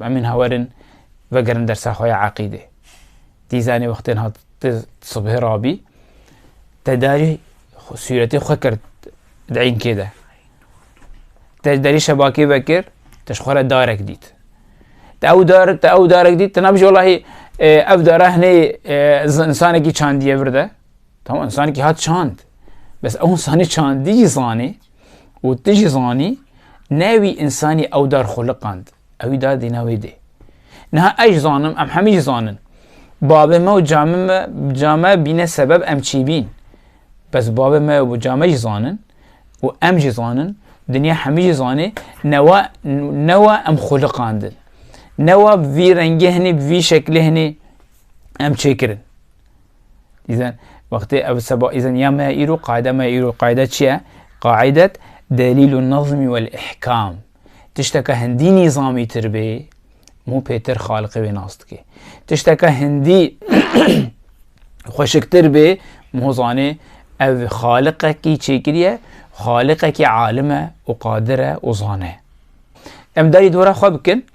Mumîn ha werin vegerin dersa xwe ya eqîdê. Dîzanê wextên hat di subhê rabî tedarî sûretê xwe kir di înkê de. Te derî şebakê vekir te ji xwe re darek dît. Te ew dar te ew darek dît te nabijî wallahî ev dara hinê insanekî çandiye vir de. Tamam insanekî hat çand. Bes ew insanî çandî jî zanî û tu jî zanî ne wî insanî ew dar xwe liqand. Ew î da dîna wê dê. Niha ez jî zanim, em hemî jî zanin. Bavê me û camê me, came bîne sebeb em çî bîn. Bes bavê me û came jî zanin û em jî zanin, dinya hemî jî zanê newa newa em xwiliqandin. Newa bi vî rengê hinî, bi vî şeklê hinî em çêkirin. Dîzen, wextê ev seba îzen ya me îro, qaide me îro, qaide çi ye? Qaidet delîl û nazmî wel ihkam. Tişteke hindî nîzamîtir bê, mû pêtir xaliqê wê nas dike. Tişteke hindî xweşiktir bê, mû zanê ev xaliqekî çêkiriye, xaliqekî alim e û qadir e û zane. Em darî dora xwe bikin,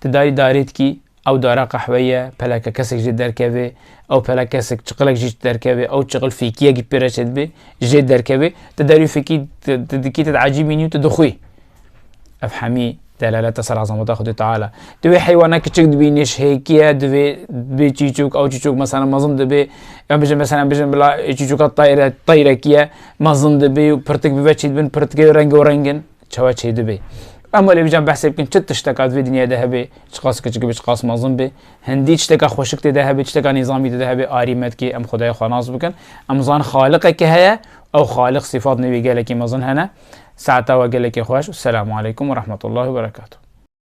ti darî darêtkî Ew dara qehweyî ye, peleke kesek jê derkevê, ew pelek kesek çiqilek jî derkevê, ew çiqil fêkîyekî pê re çêdibê jê derkevê, ti derî fêkî ti dikî ti diecî mînî û ti dixwî. Ev hemî delalete ser ezameta Xwedê Teala. Ti wê heywana kiçik dibînî ji hêkîye divê bê çîçûk, ew çîçûk meselen mezin dibê, em bijin meselen bijin bila çîçûka tayre tayrekî ye, mezin dibê û pirtik bibe çêdibin, pirtikê rengewreng in. Çawa çêdibe? Em welê bican behsê bikin çi tişteka di vê dinyayê de hebe, çiqas kiçik be, çiqas mezin be. Hindî tişteka xweşik tê de hebe, tişteka nîzamî tê de hebe, arî me dike em xwedaya xwe nas bikin. Em zanin xaliqeke heye, ew xaliq sîfat nêvî gelekî mezin hene. Saeta we gelekî xweş û selamu aleykum û rehmetullahi û berekatuh.